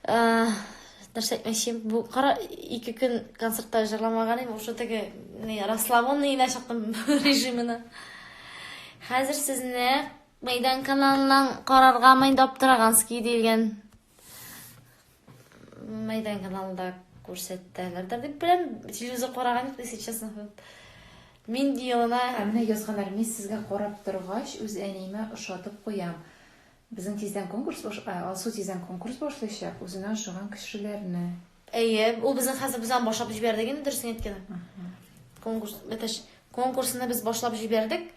нәрсә әйтмәкчем бу кара ике көн концертта җырламаган идем уже теге расслабонный генә чыктым режимына хәзер сезне мәйдан каналыннан караргамы инде аптыраганский диелгән мәйдан каналында күрсәтәләрдер дип беләм телевизор караган юк если честно Минди елына ә менә язганнар мин сезгә карап торгач үз әниемә ошатып куям Безнең тиздән конкурс баш ә, Алсу тиздән конкурс башлыйчак, үзенә ошаган кешеләрне. Әйе, ул безнең хәзер без аны башлап җибәрдек инде, дөресен әйткәндә. Конкурс, бәтәш, конкурсны без башлап җибәрдек.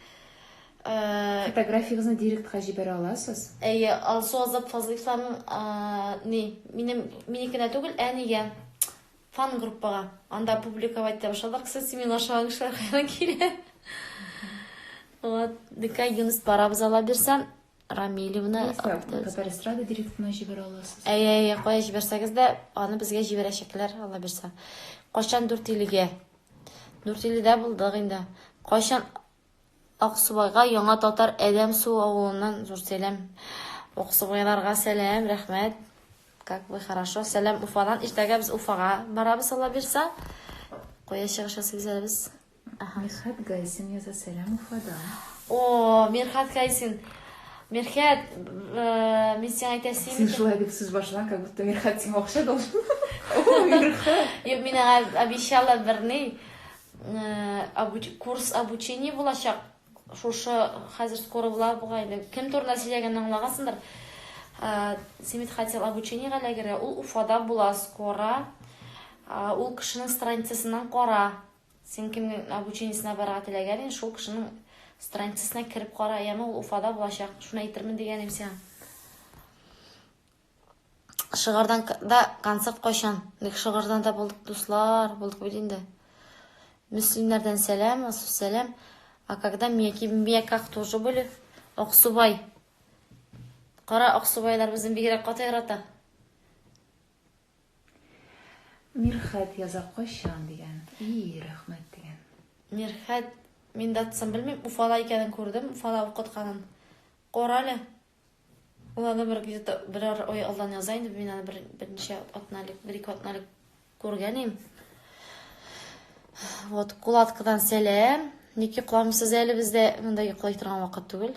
Э, Фотографиягезне директка җибәрә аласыз. Әйе, Алсу Азат Фазлыйфларның а, ни, минем минекенә түгел, ә нигә? Фан группага. Анда публиковать итә башладык. Сез синең ашаган кешеләр кайдан килә? Вот, дикә Юнус барабыз ала бирсә, Рамилевна. Татар эстрада директорына җибәрә аласыз. Әй, әй, әй, кая җибәрсәгез дә, аны безгә җибәрәчәкләр, Алла бирсә. Качан Дүртилегә? Дүртиледә булдык инде. Кайчан Аксубайга яңа татар Әдәм Су авылыннан зур сәлам. Аксубайларга сәлам, рәхмәт. Как вы хорошо. Сәлам Уфадан. Иртәгә без Уфага барабыз, Алла бирсә. Кая чыгыш ясыйбыз әле без? Мирхәт Гайсин яза сәлам Уфадан. О, Мирхәт Гайсин. Мирхәт, э, мин сиңа әйтәсем. Син шулай дип сүз башлан, как будто Мирхәт сиңа акча должен. О, Мирхәт. Юк, мин аңа обещала берни. Э, курс обучения булачак. Шушы хәзер скоро була буга инде. Кем турында сөйләгәнен аңлагансыңдыр. Э, Симит хотел обучениегә ләгерә. Ул Уфада була скоро. Ул кешенең страницасыннан кара. Син кемнең обучениесенә барырга теләгән идең, шул кешенең страницасына кереп кара, яме ул Уфада булачак, шуны әйтермен дигән идем сиңа. Шыгырдан да концерт кайчан? Бик шыгырдан да булдык, дуслар, булдык бит инде. Мөслимнәрдән сәлам, асу сәлам. А когда меня кимбия как тоже были? Аксубай. Кара Аксубайлар безне бигрәк каты ярата. Мирхәт яза кайчан дигән. Ии, рәхмәт дигән. Мирхәт, мин датасын белмим, Уфада икәнен күрдем, Уфада укытканын. Кара әле. Ул аны бер где-то берәр ай алдан яза инде, мин аны бер берничә атна элек, бер-ике атна элек күргән идем. Вот, кулаткадан сәлам. Ник йокламыйсыз әле бездә? Монда йоклый торган вакыт түгел.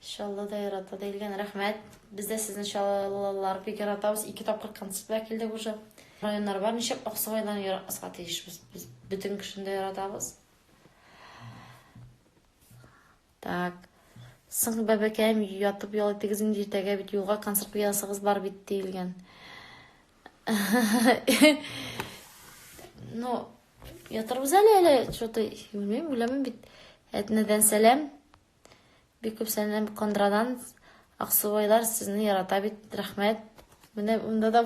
Шалла да ярата да илгән рәхмәт. Без дә сезне шаллалар бик яратабыз. Ике тапкыр концертка килдек уже. Районнар бар, ничек Аксубайдан яратмаска тиешбез. Без бөтен кешене дә яратабыз. Так. Соң бәбәкәем ятып ял итегез инде иртәгә бит юлга концерт ясагыз бар бит диелгән. Ну, Ятырбыз әле әле, что-то белмим, беләмен бит. Әтнәдән сәлам. Бик күп сәлам Кондрадан. Аксубайлар сезне ярата бит. Рәхмәт. Менә монда да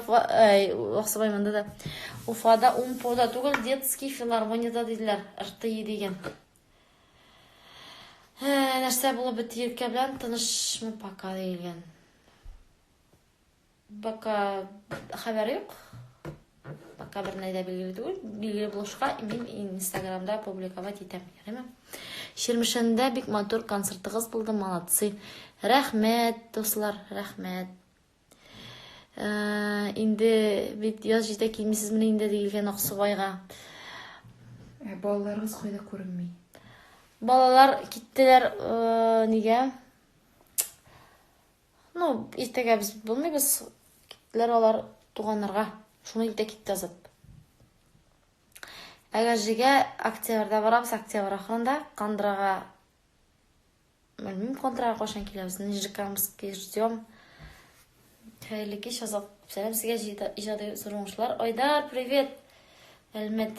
Аксубай монда да. Уфада Умпода түгел, детский филармонияда диделәр. РТИ дигән. Нәрсә булып бит елкә белән тынышмы пока дигән. Пока хәбәр юк. Пока бер нәрсә билгеле түгел. Билгеле булышка мин Инстаграмда публиковать итәм, ярыймы? Ширмешәндә бик матур концертыгыз булды, молодцы. Рәхмәт, дуслар, рәхмәт. Э, инде бит яз җитә килмисезмени инде дигелгән Аксубайга. Ә балаларыгыз кайда күренми? Балалар киттеләр э, нигә? Ну, иртәгә без булмыйбыз, киттеләр алар туганнарга. Шуны илтә китте Азат. Әгәжегә октябрьдә барабыз, октябрь ахырында Кандрага Белмим, контрага кашан киләбез. Нижекамский ждем. Хәерле кич, Азат. Сәлам сезгә иҗади зур уңышлар. Айдар, привет. Әлмәт.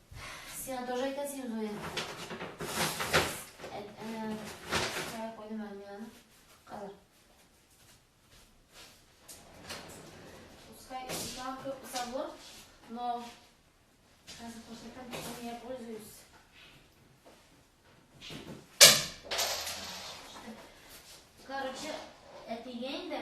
Сиңа тоже әйтә син Зоя. Кая куйдым әле мин аны? Калыр. Пускай ислам күп сабыр, но хәзер күрсәтәм, чем я пользуюсь. Короче, әтигә инде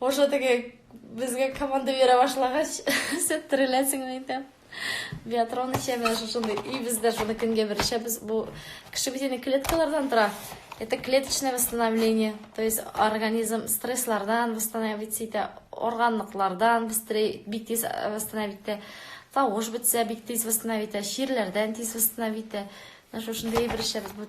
Уже теге безгә команда бирә башлагач, сез тереләсең инде. Биатрон эчәме шушындый. И бездә шуны көнгә бер эчәбез. Бу кеше бит клеткалардан тора. Это клеточное восстановление. То есть организм стресслардан восстановить итә, органлыклардан быстрее бик тиз э, восстановить итә. Тавыш бетсә бик тиз восстановить итә, чирләрдән тиз восстановить итә. Шушындый бер эчәбез. Бу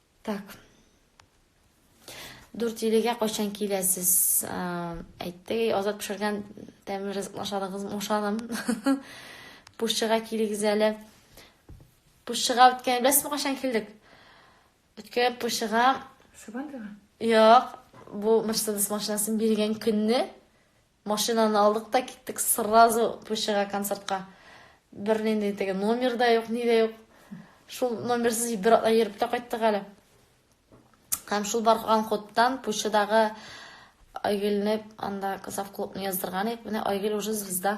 Так. Дүрт илегә кайчан киләсез? Әйтте, азат пешергән тәмле ризык ашадыгыз, ашадым. Пушчыга килегез әле. Пушчыга үткән, беләсезме кайчан килдек? Үткән пушчыга Сабантуйга? Юк, бу Mercedes машинасын биргән көнне Машинаны алдык та киттек сразу Пущега концертка. Бернинди теге номер да юк, ни дә юк. Шул номерсыз бер атна йөреп тә кайттык әле. Һәм шул барган ходтан Пущедагы Айгелне анда Казав клубны яздырган идек. Менә Айгел уже звезда.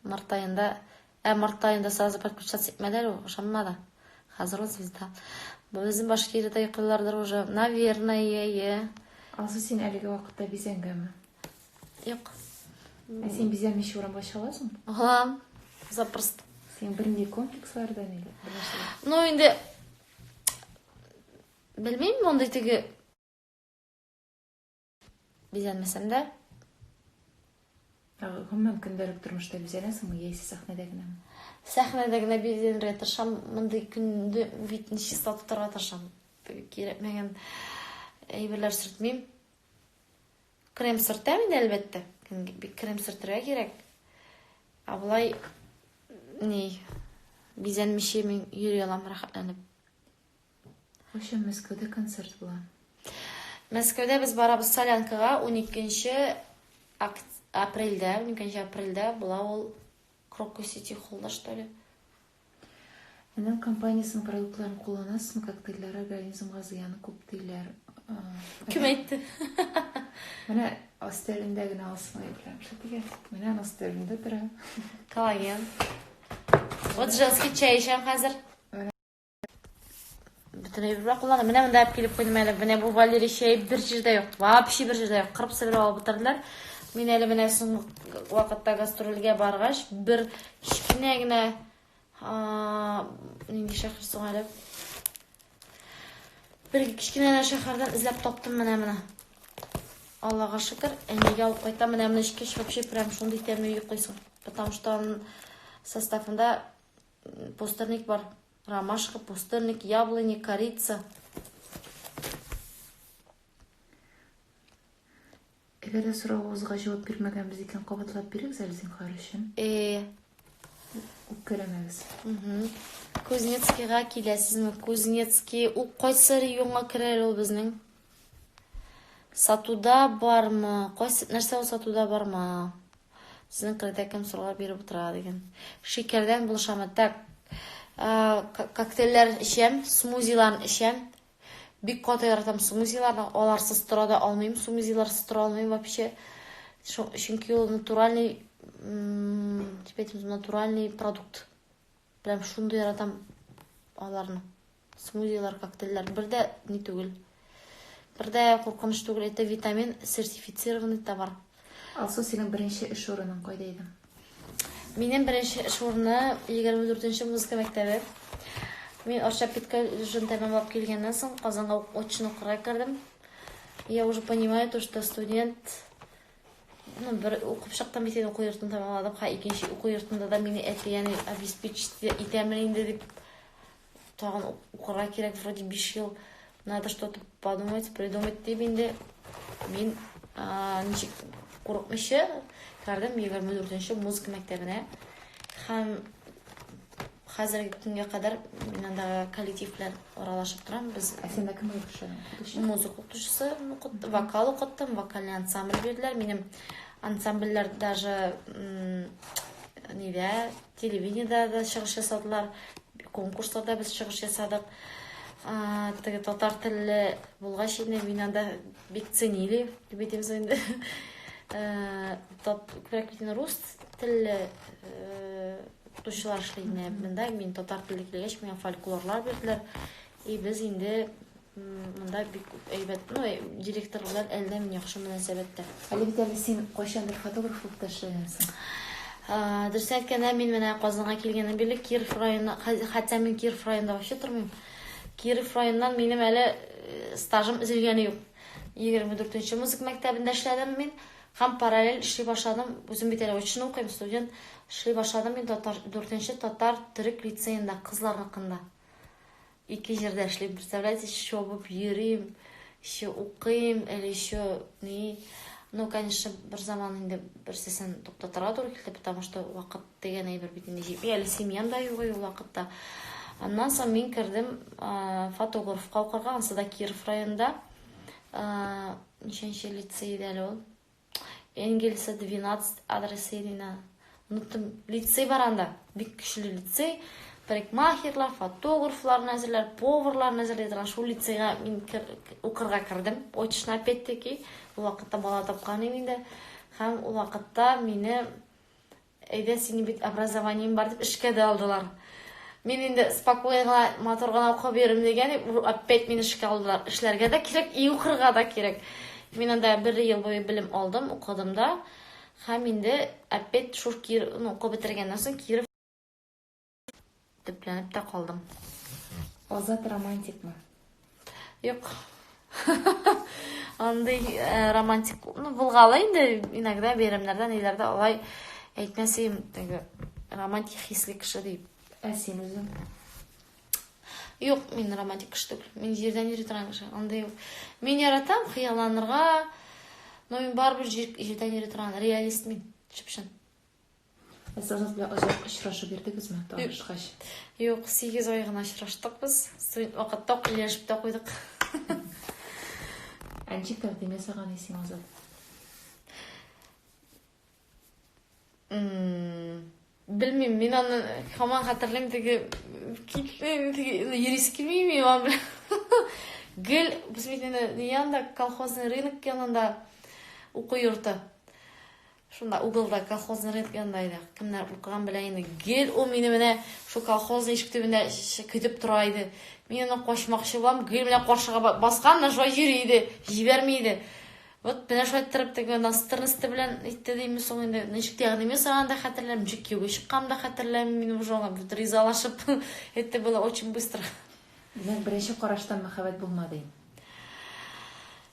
Март аенда, ә март аенда сразу подключаться итмәде әле ул, ышанмады. Хәзер ул звезда. Безнең башкирия да йоклыйлардыр уже. Наверное, е. Алсу, син әлеге вакытта бизәнгәме? Юк. Ә син бизәмичә урамга чыгасың? Ага. Запросто. Син бернинди комплекслардан или? Ну, инде белмим, мондый теге Бизәнмәсәм дә. Гомумән көндәлек тормышта бизәнәсеңме яисә сәхнәдә генәме? Сәхнәдә генә бизәнергә тырышам. Мондый көндә битне чиста тотарга тырышам. Кирәкмәгән әйберләр сөртмим. Крем сөртәм инде, әлбәттә. Бик крем сөртергә кирәк. Ә болай ни бизәнмичә мин йөри алам рәхәтләнеп. Кайчан Мәскәүдә концерт була? Мәскәүдә без барабыз Солянкага 12 апрельдә, 12 апрельдә була ул Крокус Сити холлда, что ли. Энем компаниясенең продуктларын кулланасызмы? Коктейльләр организмга зыяны күп диләр. Кем әйтте? Менә астәрендә генә алсын әйберләр. Что дигән? Менә астәрендә тора. Коллаген. Вот женский чәй эчәм хәзер. Бөтен әйбер бар куллана. Менә монда әп килеп куйдым әле. Менә бу Валерий чәй бер җирдә юк. Вообще бер җирдә юк. Кырып сибер алып бетерделәр. Мин әле менә соңгы вакытта гастрольгә баргач, бер кечкенә генә нинди шәһәр соң әле? Бер кечкенә генә шәһәрдән эзләп таптым менә моны. Аллага шөкер, әнигә алып кайта. Менә моны эчкәч, вообще прям шундый тәмле йоклыйсың. Потому что составында Пустырник бар. Ромашка, пустырник, яблони, корица. Әгәр дә соравыгызга җавап бирмәгәнбез икән, кабатлап бирегез әле зинһар өчен. Э. Үпкәләмәгез. Кузнецкийга киләсезме? Кузнецкий, ул кайсы районга керә ул безнең? Сатуда бармы? Кайсы нәрсә ул сатуда барма? Сезнең кредә кем сорау биреп утыра дигән. Шикердән булышамы? Так. Э, коктейльләр эчәм, смузилар эчәм. Бик каты яратам смузиларны. Аларсыз тора да алмыйм, смузиларсыз тора алмыйм вообще. Чөнки ул натуральный, типа, натуральный продукт. Прям шундый яратам аларны. Смузилар, коктейльләр. Бер дә ни түгел. Бер дә куркыныч түгел. Это витамин, сертифицированный товар. Алсу, синең беренче эш урының кайда иде? Минем беренче эш урыны 24-нче музыка мәктәбе. Мин Арча педколледжын тәмамлап килгәннән соң Казанга очно кырга кердем. Я уже понимаю то, что студент Ну, бер укып чыктым бит инде уку йортын тәмамладым. Ха, икенче уку йортында да мине әти яни обеспечить итәме инде дип тагын укырга кирәк вроде 5 ел. Надо что-то подумать, придумать дип инде мин ничек курыкмыйча кардем 24 нче музыка мәктәбенә. Һәм Хәзерге көнгә кадәр мин андагы коллектив белән аралашып торам. Без Ә синдә кем булып эшләгән? Укытучы? музыка укытучысы укыттым, вокал укыттым, вокальный ансамбль бирделәр. Минем ансамбльләр даже м, нидә, телевидениедә дә чыгыш ясадылар, конкурсларда без чыгыш ясадык. А, теге татар телле булгач инде мин анда бик ценили, дип әйтим соң инде. Э, тат- Күбрәк бит инде рус телле э, Укытучылар эшли иде монда. Мин татар теле килгәч, миңа фольклорлар бирделәр. И без инде монда бик күп әйбәт, ну, директор белән әллә ни яхшы мөнәсәбәттә. Әле бит әле син кайчандыр фотограф булып та эшләгәнсең. Дөрес әйткәндә, мин менә Казанга килгәннән бирле Киров районы, хәтта мин Киров районында вообще тормыйм. Киров районыннан минем әле стажым өзелгәне юк. 24 нче музыка мәктәбендә эшләдем мин. Һәм параллель эшли башладым. Үзем бит әле очно укыйм, студент. Эшли башладым мин татар, дүртенче татар-төрек лицеенда, кызларныкында. Ике җирдә эшлим, представляете, чобып йөрим, еще укыйм, әле еще ни. Ну, конечно, бер заман инде берсесен туктатырга туры килде, потому что вакыт дигән әйбер бит инде җитми, әле семьям да юк ул вакытта. Аннан соң мин кердем фотографка укырга, ансы да Киров районында. Ничәнче лицей иде әле ул? Энгельса 12 адресы иде инде. Оныттым. Лицей бар анда. Бик көчле лицей. Парикмахерлар, фотографларны әзерләр, поварларны әзерләр торган шул лицейга мин кер, укырга кердем. Очно опять-таки. Ул вакытта бала тапкан идем инде. Һәм ул вакытта мине Әйдә, синең бит образованиең бар, дип эшкә дә алдылар. Мин инде спокойно гына, матур гына укып йөрим дигән, опять мине эшкә алдылар. Эшләргә дә кирәк, и укырга да кирәк. Мин анда бер ел буе белем алдым, укыдым да. Һәм инде опять шур Кир, ну, укып бетергәннән соң Киров Төпләнеп тә калдым. Азат романтикмы? Юк. Андый э, романтик, ну, булгалы инде иногда бәйрәмнәрдә, ниләрдә алай әйтмәсем, теге романтик хисле кеше дип. Ә син үзең? Юк, мин романтик кеше түгел. Мин җирдән йөри торган кеше. Андый юк. Мин яратам хыялланырга, но мин барыбер җир- җирдән йөри торган реалист мин. Чып-чын. Әсәсез белән озак очрашып йөрдегезме, танышкач? Юк, 8 ай гына очраштык без. Студент вакытта ук ияләшеп тә куйдык. Ә ничек тәкъдим ясаган исең Азат? Белмим, мин аны һаман хәтерлим, теге китлем, теге юрист килмими ва белән. Гел без бит инде янда колхозный рынок янында уку йорты. Шунда угылда колхозный рынок янында иде. Кемнәр укыган белә инде. Гел ул мине менә шул колхозный ишек төбендә көтеп тора иде. Мин аны качмакчы булам, гел менә каршыга баскан да шулай йөри иде, җибәрми иде. Вот менә шулай торып теге настырнысты белән итте дими соң инде. Ничек тәкъдим ясаган да хәтерләмим, ничек кияүгә чыккан да хәтерләмим. Мин уже аңа бит ризалашып это было очень быстро. Димәк, беренче караштан мәхәббәт булмады.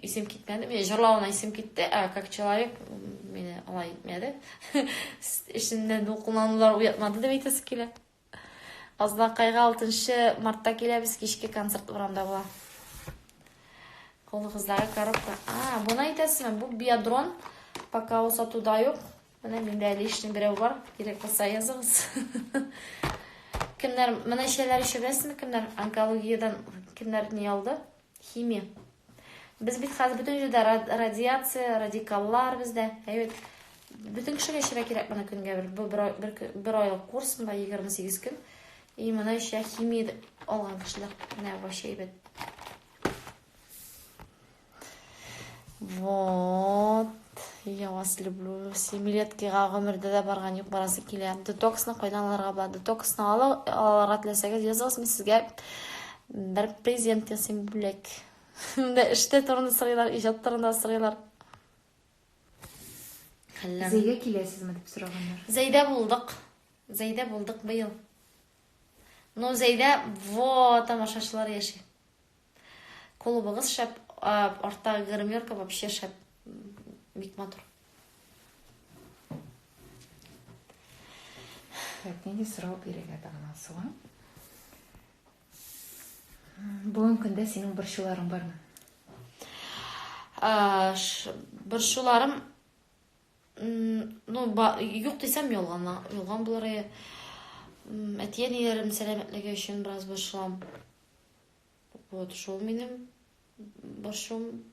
Исем китмәде. Менә җырлавына исем китте, ә как человек мине алай итмәде. Эшемне дулкынланулар уятмады дип әйтәсе килә. Азнакайга 6 мартта киләбез, кичке концерт урамда була. Кулыгыздагы коробка. А, буны әйтәсезме? Бу биодрон. Пока ул сатуда юк. Менә миндә лишний берәү бар. Кирәк булса языгыз. Кемнәр, менә шәйләр ишәбәсезме? Кемнәр онкологиядән кемнәр ни алды? Химия. Без бит хәзер бөтен җирдә радиация, радикаллар бездә. Әйбәт. Бөтен кешегә эчәргә кирәк моны көнгә бер бу бер, бер, бер айлык курс монда 28 көн. И моны эчә химия алган кешеләр. Менә вообще әйбәт. Вот. Я вас люблю. Семилеткига гомердә дә барган юк, барасы килә. Детоксны кайдан алырга була? Детоксны алырга теләсәгез, языгыз, мин сезгә бер презент ясыйм бүләк. Менә эштә турында сорыйлар, иҗат турында сорыйлар. Әллә. Зәйдә киләсезме дип сораганнар. Зәйдә булдык. Зәйдә булдык быел. Ну, Зәйдә во тамашачылар яши. Клубыгыз шәп, арттагы гримерка вообще шәп. Бик матур. Әтнене сорау бирергә тагын асыла. Бүгенге көндә синең борчуларың бармы? Борчуларым ну, юк дисәм ялган, ялган булыр. Әтиәниләрем сәламәтлеге өчен бераз борчылам. Вот, шул минем борчуым.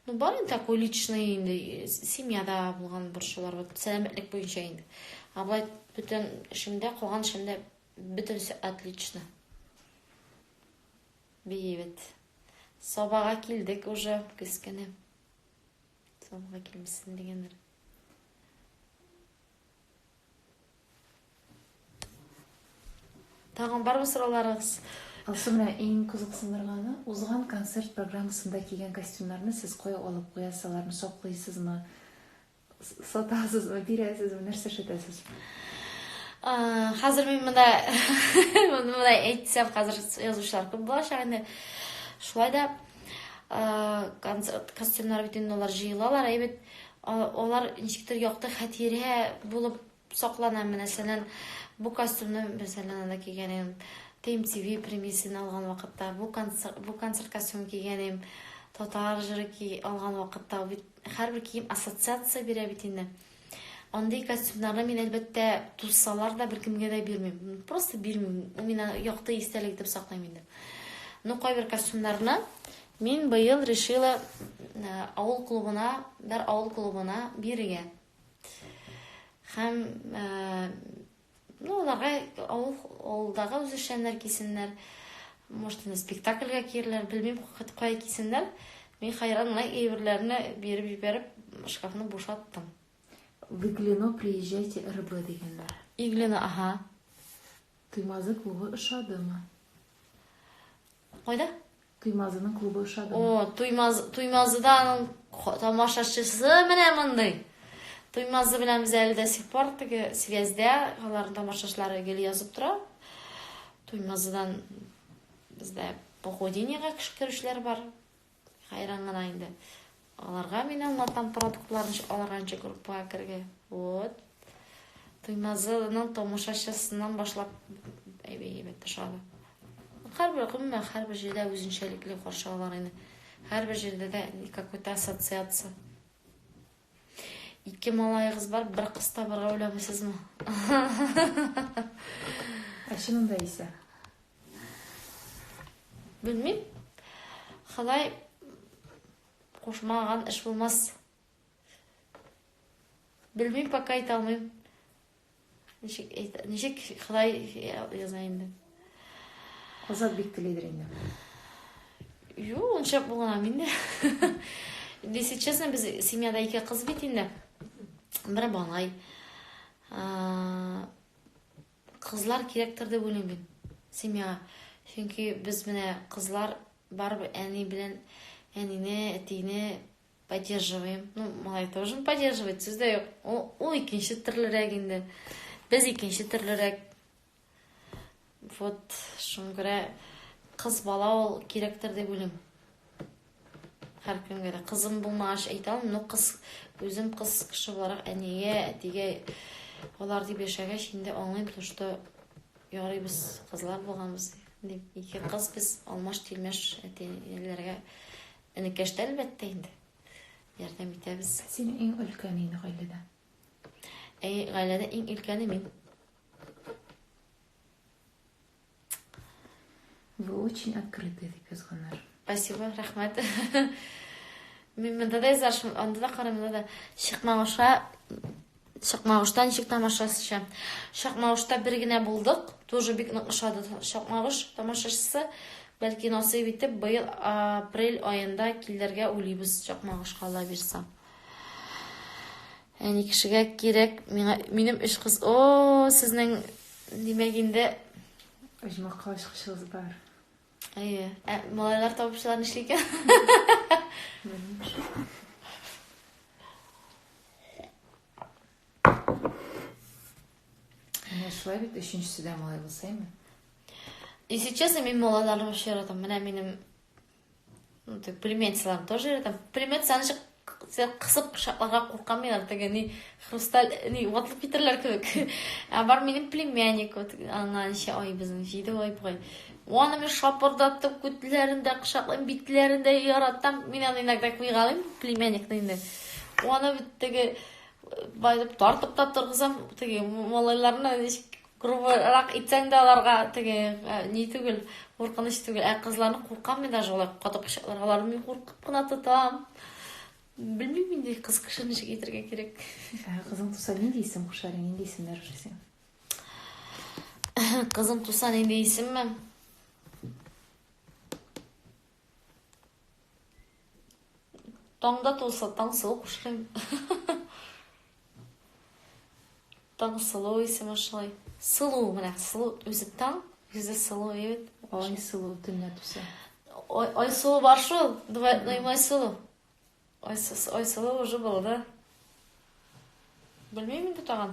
Ну, бар инде такой личный инде, семьяда булган борчулар, вот, сәламәтлек буенча инде. А былай бөтен эшемдә, калган эшемдә бөтенесе отлично. Бейбит. Сабага килдек уже, кескене. Сабага килмесен дигәндер. Тагын бармы сорауларыгыз? Алсу менә иң кызыксындырганы, узган концерт программасында кигән костюмнарны сез кая алып куясыз, аларны саклыйсызмы, сатасызмы, бирәсезме, нәрсә эшләтәсез? Хәзер мин монда монда әйтсәм, хәзер язучылар күп булачак инде. Шулай да концерт костюмнары бит инде алар җыелалар, әй бит алар ничектер якты хәтирә булып саклана мәсәлән бу костюмны мәсәлән анда кигән идем тм тв премиясен алган вакытта бу концерт бу концерт костюмын кигән идем татар жыры алган вакытта бит һәрбер кием ассоциация бирә бит инде Андый костюмнарны мин, әлбәттә, тузсалар да беркемгә дә бирмим. Просто бирмим. Ул мина якты истәлек итеп саклыйм инде. Ну, кайбер костюмнарны мин быел решила э, авыл клубына, бер авыл клубына бирергә. Һәм э, Ну, аларга авыл, авылдагы үзешчәннәр кисеннәр, может, инде спектакльгә киерләр, белмим, кая кисеннәр. Мин хәйран гына әйберләрне биреп җибәреп, шкафны бушаттым. В Иглино приезжайте РБ дигәннәр. Иглино, ага. Туймазы клубы ошадымы? Кайда? Туймазының клубы ошады. О, Туймаз, Туймазыда аның тамашачысы менә мондый. Туймазы белән без әле дә сих пор теге связьдә, аларның тамашачылары гел язып тора. Туймазыдан бездә похудениегә керүчеләр бар. Хәйран гына инде. Аларга мин аңлатам продуктларны ничек алырга, ничек группага керергә. Вот. Туймазының томышачысыннан башлап әйбәт тышады. Һәрбер гомумән һәрбер җирдә үзенчәлекле каршы алар инде. Һәрбер җирдә дә какой-то ассоциация. Ике малайыгыз бар, бер кыз табырга уйламыйсызмы? Ә чынында исә? Белмим. Ходай кушмаган эш булмас. Белмим, пока әйтә алмыйм. Ничек әйтә, ничек Ходай яза инде. Азат бик телидер инде. Ю, онча булган инде. Если честно, без семьяда ике кыз бит инде. Бер малай. Кызлар кирәктер дип уйлыйм мин семьяга. Чөнки без менә кызлар барыбер әни белән әнине, әтине Поддерживаем. Ну, малай тоже поддерживает, сүз дә юк. Ул, ул икенче төрлерәк инде. Без икенче төрлерәк. Вот, шуңа күрә кыз бала ул кирәктер дип уйлыйм. Һәркемгә дә кызым булмагач әйтә алмыйм, но кыз үзем кыз кеше буларак әнигә, әтигә алар дип яшәгәч инде аңлыйм, то что ярый без кызлар булганбыз дип. Ике кыз без алмаш-тилмәш әтиләргә Энекәш тә, әлбәттә инде. Ярдәм итәбез. Син иң өлкән инде гаиләдә. Әй, гаиләдә иң өлкәне мин. Вы очень открытый, дип язганнар. Спасибо, рәхмәт. Мин монда да язаршым, анда да карамда да. Чыкмагыша Чакмагышта ничек тамашачы? Чакмагышта бер генә булдык. Тоже бик нык ошады Чакмагыш тамашачысы. Бәлки насыйп итеп быел апрель аенда килергә уйлыйбыз Чакмагышка Алла бирса. Әни кешегә кирәк, миңа минем өч кыз. О, сезнең димәк инде оҗмахка очкычыгыз бар. Әйе. Ә малайлар табыпчылар нишли икән? Менә шулай бит өченчесе дә малай булса име? Если честно, мин малайларны вообще яратам. Менә минем Ну, ты пулеметчылар тоже там пулемет сәнче кысып пышакларга куркамыйлар теге ни хрусталь ни ватылып китерләр кебек ә бар минем племянник вот аңа ничә ай безнең җиде ай бугай оны мен шапырдатып күтләрен дә кочаклыйм битләрен дә яратам мин аны иногда куйгалыйм племянникны инде оны бит теге байтып тартып та торгызам теге малайларны Грубырак итсәң дә аларга теге э, ни түгел, куркыныч түгел. Ә кызларны куркам мин даже алар каты кочакларга аларны мин куркып кына тотам. Белмим инде кыз кеше ничек итәргә кирәк. Ә кызың туса нинди исем куша әле, нинди исемнәр өшесең? Кызым туса нинди исемме? Таңда тулса, Таңсылу кушырым. Таңсылу исеме шулай. Сылу менә, сылу үзе таң, үзе сылу егет. Ай сылу төнлә туса. Ой, ой сылу бар шул. Давай, ну и мой сылу. Ой, ой сылу уже было, да? Белмейм инде тагын.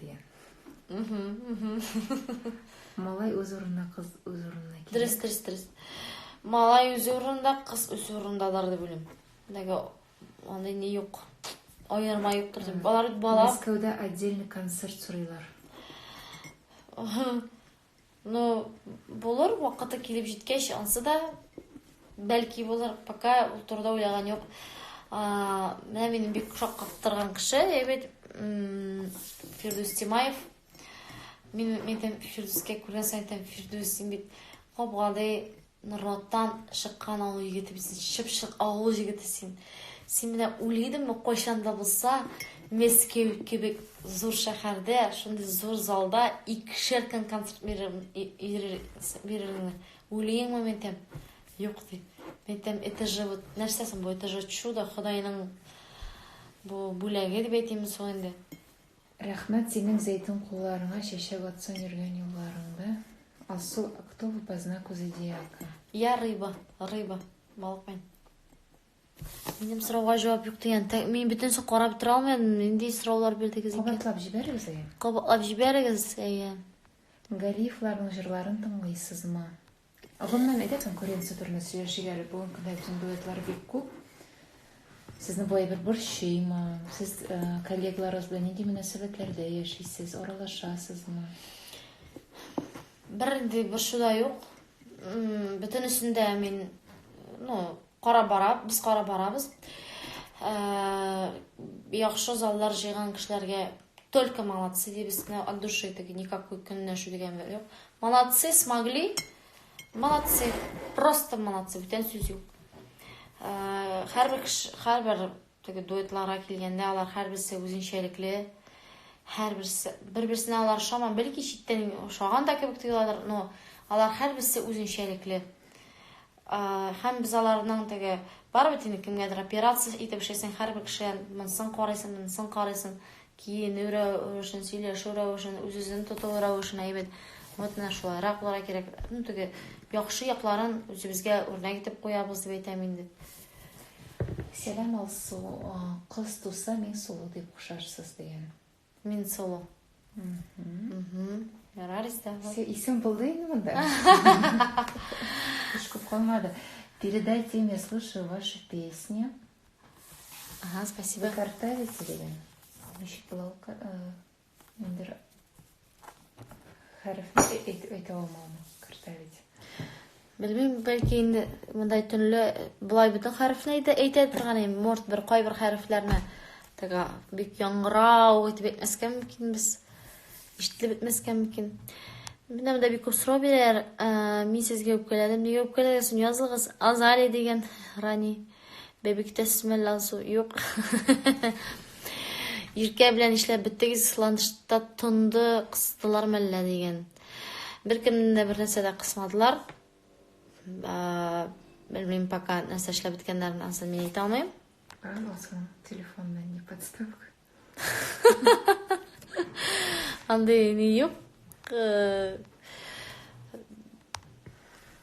Дигән. Малай үз урынында, кыз үз урынында. Дөрес, дөрес, дөрес. Малай үз урынында, кыз үз урындадар дип уйлыйм. Дәгә андый ни юк. Аерма юктыр дип. Балар бала. Мәскәүдә отдельный концерт сорыйлар. Ну, булыр, вакыты килеп җиткәч, ансы да бәлки булыр, пока ул турыда уйлаган юк. Менә минем бик шаккаттырган кеше, әйбәт Фирдүс Тимаев. Мин әйтәм, Фирдүскә күргән саен әйтәм, Фирдүс, син бит кабгадый, Норлаттан чыккан авыл егете бит син, чыпчык авыл җегете син. Син менә уйлый идеңме, кайчан да булса Мәскәү кебек зур шәһәрдә, шундый зур залда икешәр көн концерт бирер, и- ирер- с- биререңне? Уйлыйңмы, Ментәм? Юк, ди. Ментәм, это же вот, нәрсә соң бу, это же чудо, Ходайның бу бүләге дип әйтимме соң инде? Рәхмәт синең зәйтүн кулларыңа чәчәк атсын йөргән юлларыңда Алсу а кто вы по знаку зодиака? Я рыба, рыба, балыкмен. Минем сорауга җавап юк дигән. Мин бөтенесе карап тора алмадым. Нинди сораулар бирдегез икән? Кабатлап җибәрегез әйе. Кабатлап җибәрегез әйе. Галиевларның җырларын тыңлыйсызмы? Гомумән әйтә конкуренция турында сөйләшик әле. Бүген көндә бөтен дуэтлар бик күп. Сезне бу әйбер борчыймы? Сез э, коллегаларыгыз белән нинди мөнәсәбәтләрдә яшисез? Аралашасызмы? Бернинди борчу да юк. М, Бөтенесендә мин, ну, Карап бара, без карап барабыз. Ә, яхшы заллар җыйган кешеләргә только молодцы дибез. От души таки никакой көнләшү дигән бер юк. Молодцы, смогли. Молодцы. Просто молодцы. Бүтән сүз юк. Һәрбер һәрбер Теге дуэтларга килгәндә, алар һәрберсе үзенчәлекле. Һәрберсе бер-берсенә алар ошаман, бәлки читтән ошаган да кебек тоеладыр, но алар һәрберсе үзенчәлекле. Һәм без аларның теге барыбер инде кемгәдер операция итеп эшләсәң, һәрбер кешедән монсын карыйсың, монсын карыйсың, киенү рәвешен, сөйләшү рәвешен, үз-үзен тоту рәвешен әйбәт. Вот менә шулайрак булырга кирәк. Ну теге яхшы якларын үзебезгә үрнәк итеп куябыз дип әйтәм инде. Сәлам Алсу, кыз туса мин солы дип кушарсыз дигән. Мин солы. Ярар истә. Исем булды инде монда. Эш күп калмады. Передайте мне, слушаю ваши песни. Ага, спасибо. Вы картавите ли? Ничек була? Мен бер хәрефне әйтә алмам, кертә бит. Белмим, бәлки инде мондай төнле былай бөтен хәрефне әйтә, әйтә торган инде, может бер кайбер хәрефләрне тәгә бик яңгырау итеп әйтмәскә мөмкин без. Ишетелеп бетмәскә мөмкин. Менә монда бик күп сорау бирәләр. Мин сезгә үпкәләдем. Нигә үпкәләгәнсең? Язылыгыз Азали дигән Рани. Бәбиктә сменлансу юк. Иркә белән эшләп беттегез, ланчта тонды кыстылар мәллә дигән. Бер кемнән дә бер нәрсә дә кысмадылар. Белмим пока нәрсә эшләп беткәннәрен, ансын мин әйтә алмыйм. Телефоннан не подставка. Андый ни юк. Э,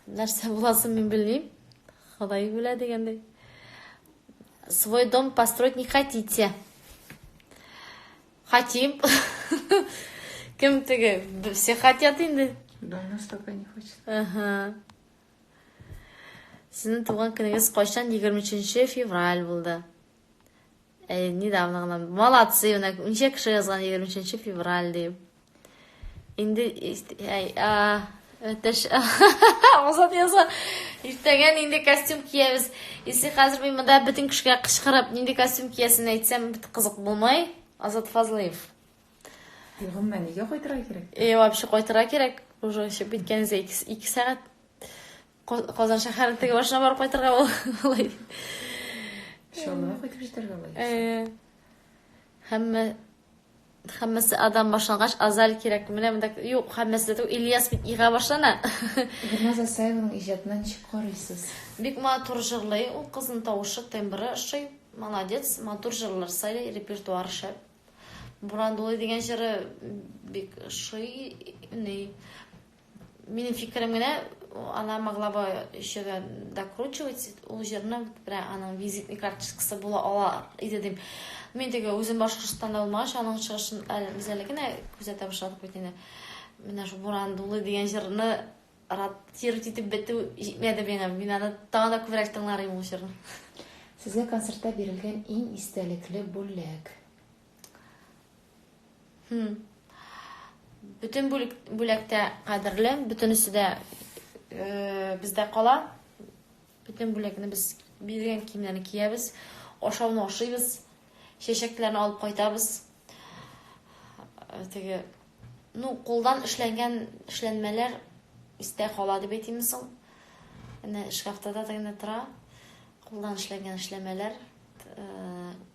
нәрсә буласын мин белмим. Ходай белә дигәндәй. Свой дом построить не хотите. Хотим. Кем теге? Все хотят инде. Да, у нас только не хочет. Ага. Синең туган көнегез кайчан? 23 февраль булды. Әй, недавно гына. Молодцы, менә ничә кеше язган 23 февраль дип. Инде әй, а, Өтеш. Азат яза. Иртәгә нинди костюм киябез? Если хәзер мин монда бөтен кешегә кычкырып, нинди костюм киясен әйтсәм, бит кызык булмай. Азат Фазлыев. Егымма нигә кайтырга кирәк? Э, вообще кайтырга кирәк. Уже еще биткәнегез 2 сәгать. Казан шәһәрен теге башына барып кайтырга алай. Шулай кайтып җитәргә алай. Э, һәммә Хәммәсе адам башлангач, Азаль кирәк. Менә монда юк, хәммәсе дә Ильяс бит ига башлана. Гөлназ Асаеваның иҗатына ничек карыйсыз? Бик матур җырлый, ул кызның тавышы, тембры ошый. Молодец, матур җырлар сайлый, репертуар шәп. Буран дулый дигән җыры бик ошый. Ни, Минем фикерем генә, она могла бы еще докручивать ул җырны, бирә аның визитный карточкасы була ала иде дим. Мин теге үзем Башкортстанда булмагач, аның чыгышын без әле генә күзәтә башладык бит инде. Менә шу Буран дулы дигән җырны раттировать итеп бетү җитмәде миңа. Мин аны тагын да күбрәк тыңлар идем ул җырны. Сезгә концертта бирелгән иң истәлекле бүләк? Хм. Бүтән бүлектә кадерле, бүтәнесе дә э, бездә кала. Бүтән бүләкне без биргән киемнәрне киябез, ашауны ашыйбыз, чәчәкләрне алып кайтабыз. Э, теге ну, кулдан эшләнгән эшләнмәләр истә кала дип әйтимме соң? Әнә шкафта да генә тора. Кулдан эшләнгән эшләмәләр, э,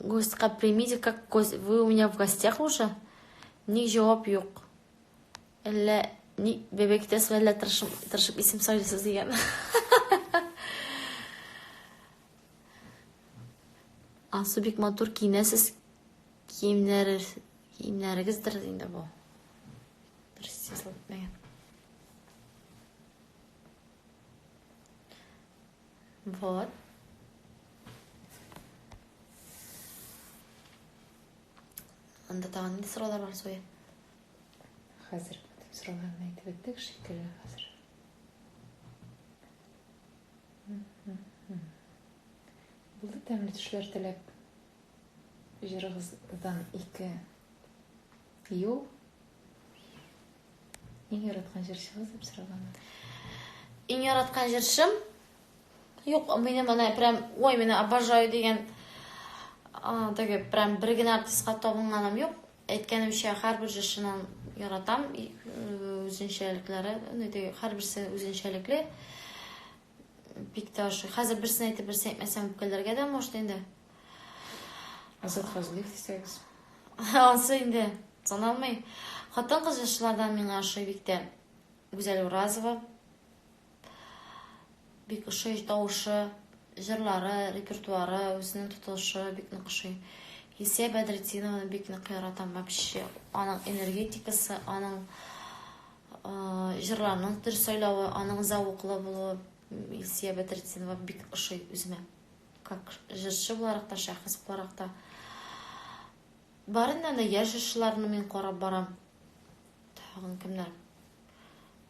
Гостька примите как гость. Вы у меня в гостях уже? Ник җавап юк? Әллә ник бәбәй көтәсез, әллә тырышып, тырышып исем сайлыйсыз дигән. Ансу бик матур киенәсез. Киемнәре, киемнәрегездер инде бу. Дөрес язылып мәгән. Вот. Анда тагын нинди сораулар бар, Зоя? Хәзер бөтен сорауларны әйтеп беттек шикелле хәзер. Булды тәмле төшләр теләп. Җырыгыздан ике Тию. Иң яраткан җырчыгыз дип сораганда. Иң яраткан җырчым? Юк, минем ана прям, ой, мені обожаю деген теге прям бер генә артистка табынганым юк. Әйткәнемчә, һәрбер җырчыны яратам, үзенчәлекләре, һәрберсе үзенчәлекле. Бик тә ошый. Хәзер берсен әйтеп, берсен әйтмәсәм үпкәләргә дә может инде. Азат Фазлыев дисәгез. Ансы инде саналмый. Хатын кыз җырчылардан миңа ошый бик тә Гүзәл Уразова. Бик ошый тавышы, җырлары, репертуары, үзенең тотылышы бик нык ошый. Исә Бәдретдинованы бик нык яратам вообще. Аның энергетикасы, аның Җырларның төр сайлавы, аның зәвыклы булуы Илсия Бәдретдинова бик ошый үземә. Как җырчы буларак та, шәхес буларак та. Барыннан да яшь җырчыларны мин карап барам. Тагын кемнәр?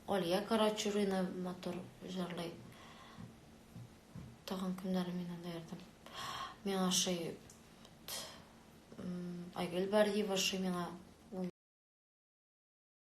Алия Карачурина матур җырлый. Тагын кемнәр мин анда ярдәм? Миңа ошый Айгөл Бариева ошый миңа.